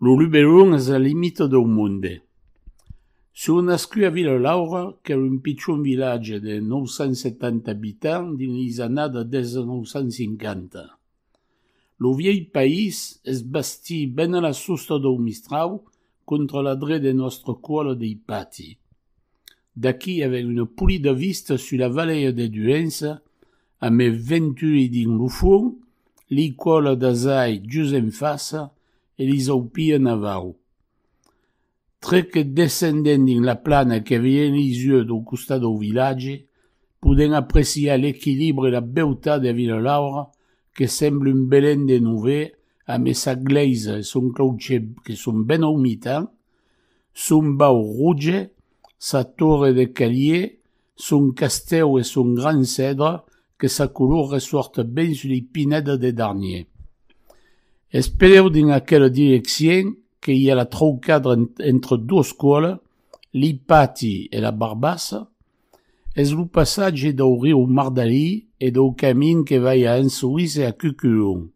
Lo Luberon es la limita dau monde. Soi nascut a Vila-Laura, qu'èra un pichon vilatge de 970 abitants dins lhis annadas 1950. Lo vièlh país es bastit ben a la sosta dau Mistrau contra la dret de nòstra cuala dei pati. D'aquí avèm una polida vista sus la valèia de Duença a me venturir dins lo fuon, li còla d'azai just en fasa e li zaupia navau. Tre que descendent dins la plana que vien li yeux dau costat dau vilatge, podèm apreciar l'equilibre e la beutat de Vinalaura que sembla un Belén de Nover amé sa glèisa e son clauchèr que son ben au mitan, Son bau roge, sa torre de calier, son castèu e son gran cèdre que sa color ressort ben sus li pinèdas de Darnier. Es pereu dins aquela direccien que i a la traucadra entre dos còls, li Pati e la Barbassa. Es lo passatge dau riu Mardalí e dau camin que vai a Ansoís e a Cuculon.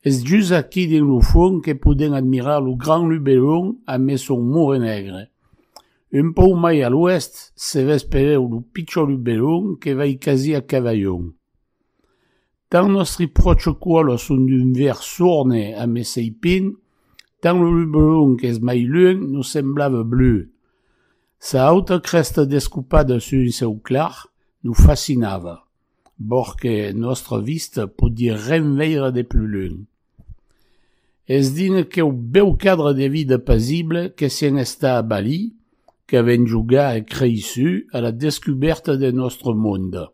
Es just aquí dins lo fuon que podèm admirar lo Grand Luberon a mes son Mure Negre. Un pauc mai a l'oèst se ves pereu lo pichon Luberon que vai quasi a Cavaillon. Tant nòstri pròche cuòlhos son d'un verd sorne a mes Seipin, tant lo Luberon qu'es mai lunh nos semblava bleu. Sa auta crèsta descopada sus un cèu clar nos fascinava. bor que nòstra vista podie ren veire de plus lunh. Es dins aqueu bèu cadre de vida pasible que sèn estar a Bali, qu'avèn jogar e creissu a la descubèrta de nòstre monde.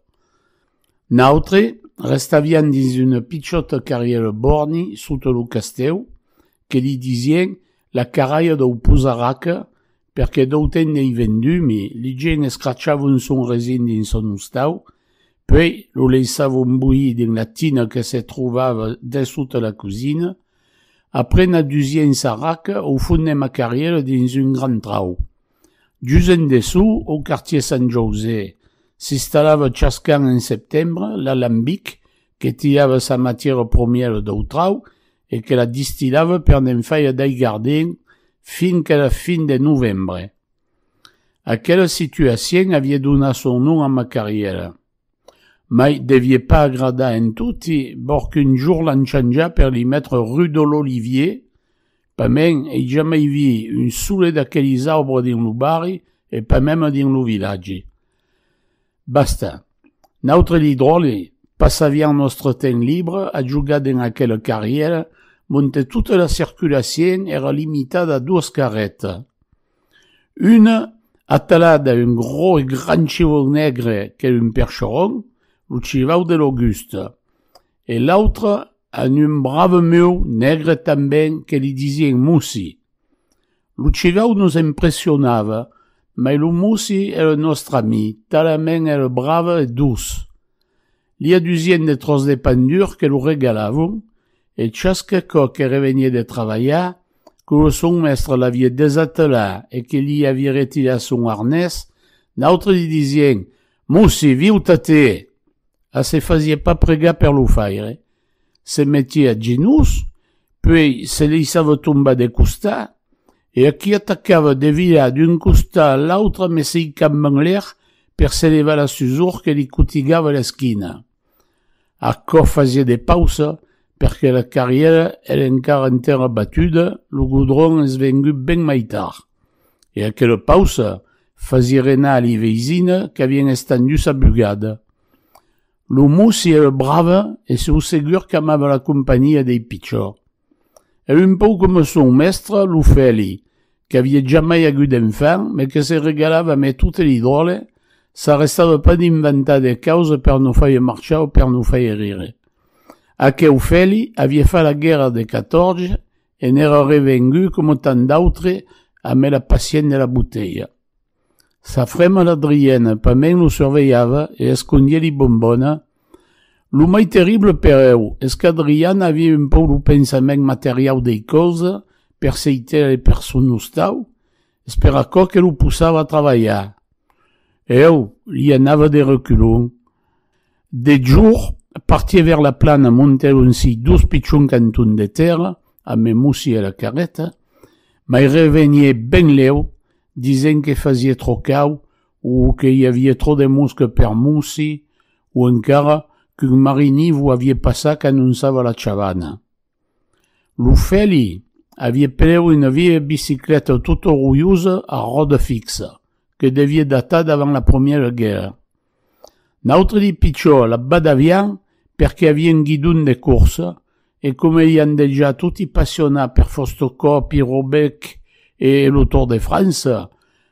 Nautre restavián dins una pichòta carrièra borni sota lo castèu que li disien la carralha dau Pusaraka Perque d'auten n'ei vendumi, li geni escrachavon son resin dins son ostau, puei lo leissavon boir dins la tina que se trovava dessota la cosina. Après na dusien sarraca o fonem a carriera dins un grand trau. Just en dessú, au quartier Sant Jausè, s'istallava chasqu'an en septembre l'alambic que tiava sa matièra promièra dau trau e que la distilava per ne'n faire dei gardin fin que la fin de novembre. Aquela situacion avie donat son nom a ma carrièra. Mai devie pas agradar en toti, bor qu'un jour l'an chanjat per li metre rue de l'Olivier, pas mèn ei jamai vii un sole d'aquelis arbres dins lo barri e pas meme dins lo vilatge. Basta. Nautre li dròlle passavián nòstre temps libre a jogar dens aquela carrièra monte tota la circulacion èra limitada a doas carreta. Una atalada un gros e grand chevau negre qu'es un percheron, lo chevau de l'Augusta, e l'autra a un brave meu negre tanben que li disien Mussi. Lo cigau nos impressionava, mai lo Mosi ère nòstre ami, talament ère brave e doç. Li adusien de tròç de pan dur que lo regalavon, e chasque còp que revenié de travalhar, que lo son mèstre l'avié desatelat e que li avié retirat son arnés, nautre li disien, Mosi, viu-te-te! A se fasié pas pregar per lo faire. Se metie a genús, puèi se leissava tombar de costat, e a qui atacava de virar d'un costat a l'autra messeicaman enlèr per se levar la susor que li cotigava l'esquina. Aquò fasie de pausa perque la carrièra èra encara en tèrra batuda, lo godron es vengut ben mai tard. E aquela pausa fasie renar li veisina qu'avien estendusa bugada. Lo Mussi ère brave e sou segur qu'amava la companhia dei pichors. Ère un pòu coma son mèstre, lo Fèli, qu'avie jamai agut d'enfant, me que se regalava a me tote li dròlle, s'arrestava pas d'inventar de causes per nos faire marchar o per nos faire rire. Aqueu Fèli avie fat la guèrra de 14 e n'ère revengut, coma tant d'autres, amé la pacient de la botelha. Sa frema la Driena, pas mens lo survelhava e escondié li bombona. Lo mai terrible per eu es qu'a Driana aviá un pauc lo pensament materiau dei causa, per sei tela de person ostau, es per aquò que lo possava a travalhar. Eu li anava de reculon. Deth jorn, partie vers la plana, montèri un si dus pichons cantons de tèrra, a me mossí era carreta, mai revenie ben lèu, disent que fasie tro cau o que i avie tro de mosca per mossí, o encara qu'un marinivou avie passat qu'anounçava la chavana. Lo Fèli aviá preu una vièlha bicicleta tot orulhosa a ròda fixa, que deviá datar d'avant la Promièra Guèrra. N'autre dit pichó, la badavián perqué aviá un guidon de corsa e coma ian dejà toti passionats per Fostocòp, Irobèc e lo Tour de França,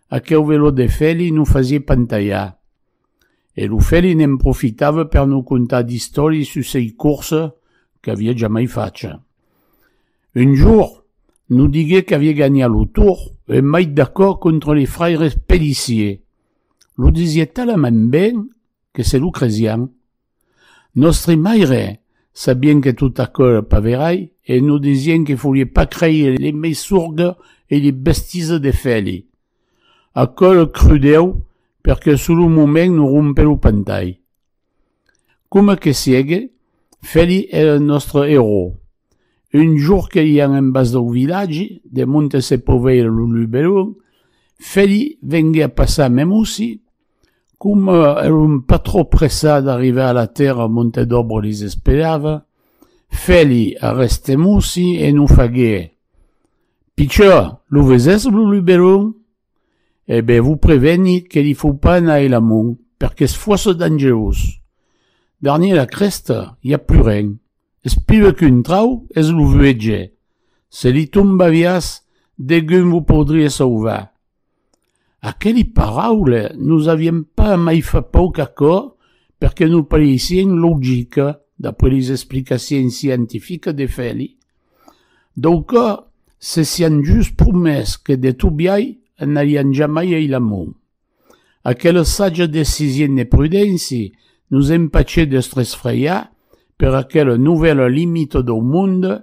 aqueu veló de Fèli non fasiá pantalhar. E lo fèli ne'n profitava per nos contar d'istòri sus sei corsa qu'aviá jamai facha. Un jorn, nos digué qu'aviá ganhat lo Tour un mait d'acò contra li fraires Pellissier. Lo disié talament ben que se lo cresián. Nòstri maire, sabien que tot aquò èra pas verai e nos disien que folie pas creire li mei sorga e li bestiza de Fèli. Aquò lo crudèu perque sul lo moment nos rompè lo pantai. Coma que siegue, Fèli èra nòstre erò. Un jorn que iam en bas dau vilatge, de monte se poveire lo luberon, Fèli venguè a passar mèm aussi, Coma èron pas trop pressats d'arribar a la tèrra Montedobro les esperava, Fèli arrèstemossi e non faguère. Pichò, lo vesèsses lo luberon? E ben, vos preveni que li fau pas anar e l'amont, perque's fòrça dangerós. Darnièr la crèsta, i a plus ren. Es piuè qu'un trau es lo vuege. Se li tombaviàs, degun vos podriè sauvar. Aqueli paraule nos avien pas mai fa pauc acòr perque nos pareissien logica d'après les explicaciens scientifica de Feli. Dau còr se sian just promés que de Tobiai anarian jamai ei la mon. Aquela saja decision de prudenci nos empachè d'estre esfreiar per aquela novèla limita dau monde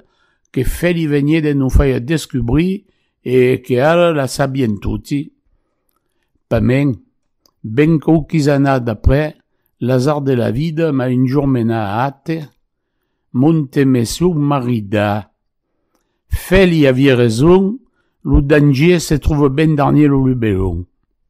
que Feli venié de nos faire descubrir E que ara la sabien toti, pas mèn, ben quauquis annadas après, l'azard de la vida m'a un jorn menat ath monte mès lo marida. Fèli avie raison, lo dangier se tròve ben darnier lo lubelon.